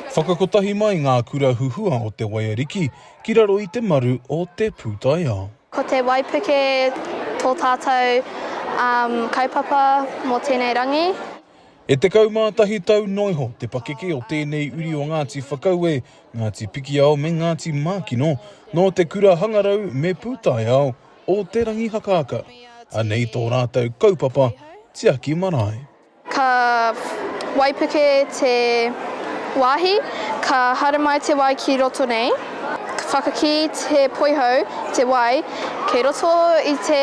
Whakakotahi mai ngā kura huhua o Te Waiariki ki raro i te maru o te pūtaiao. Ko te waipuke tō tātou kaupapa mō tēnei rangi. E tekau mā tahi tau noa iho te pakeke o tēnei uri o Ngāti Whakaue, Ngāti Pikiao me Ngāti Mākino nō te kura hangarau me pūtaiao o Te Rangihakaaka. Anei tō rātou kaupapa tiaki marae. Ka waipuke te wāhi, ka haramai te wai ki roto nei, ka whakakī te poihau te wai, kei roto i te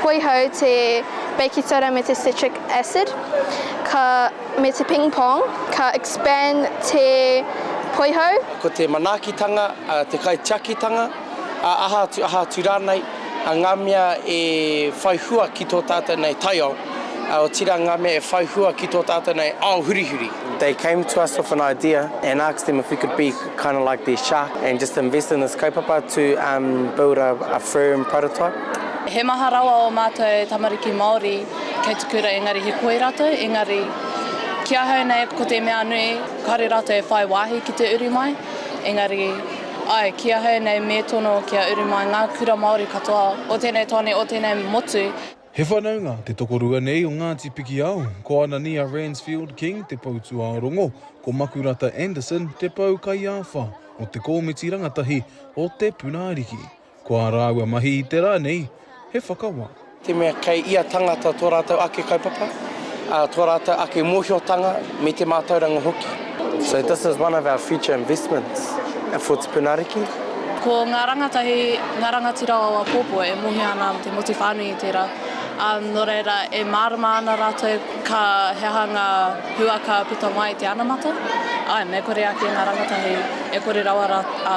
poihau te beikitara me te citric acid, ka, me te ping pong, ka expand te poihau. Ko te manaakitanga te kaitiakitanga. ā, aha atu, aha atu rānei, ā, ngā mea e whai hua ki tō tātou nei taiao, ā, otirā ngā mea e whai hua ki tō tātou nei ao hurihuri. They came to us with an idea and asked them if we could be kind of like their shark and just invest in this kaupapa to um build a a firm prototype. He maha rawa ō mātou e tamariki Māori kei te kura engari he koi rātou, engari ki ahau nei ko te mea nui kāore rātou e whai wāhi ki te uru mai, engari. Ae, ki ahau nei me tono kia uru mai nga kura Maori katoa o tenei tane, o tenei motu. He whanaunga te tokorua nei o Ngati Pikiao, ko Anania Ransfield King te pou tuaorongo, ko Makurata Anderson te pou kaiawha o te komiti rangatahi o Te Puna Ariki. Ko ā rāua mahi i te rā nei, he whakawā. Te mea kei ia tangata tō rātou ake kaupapa, tō rātou ake mōhiotanga me te mātauranga hoki. So this is one of our future investments for Tipuna Ariki. Ko ngā rangatahi, ngā rangatira o apōpō e mōhio ana te motu whānui i tērā, ā, nō reira e mārama ana rātou ka he aha ngā hua ka puta mai i te anamata, āe me kore ake ngā rangatahi e kore rawa rā, ā,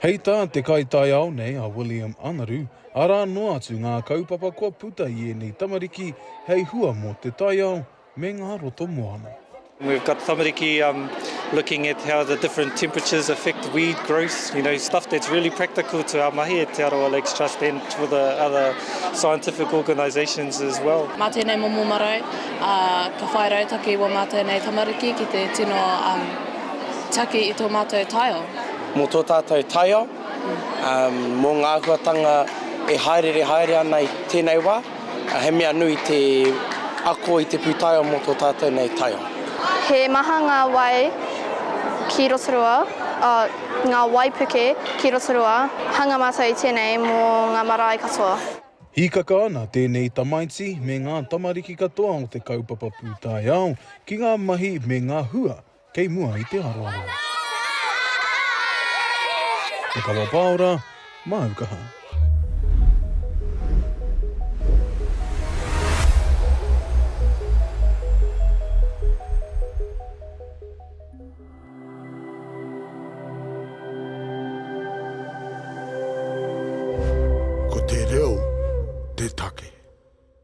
Hei tā te kaitaiao nei a William Anaru, arā noa atu ngā kaupapa kua puta i ēnei tamariki hei hua mō te taiao me ngā roto moana. We've got tamariki um looking at how the different temperatures affect weed growth, you know, stuff that's really practical to our mahi at Te Arawa Lakes Trust and for the other scientific organisations as well. Mā tēnei momo marae a ka whai rautaki i wō mātou nei tamariki ki te tino um taki i tō mātou taiao. Mō tō tātou taiao, mō ngā āhuatanga e hāereere haere ana i tēnei wā, he mea nui te ako i te pūtaiao mō tō tātou nei taiao. He maha ngā wai ki Rotorua, ngā waipuke ki Rotorua, hanga mātou i tēnei mō ngā marae katoa. Hīkaka ana tēnei tamaiti me ngā tamariki katoa o te kaupapa pūtaiao ki ngā mahi me ngā hua Kei mua i te aroaro. Te kawa paora, māu kaha. Ko te reo te take.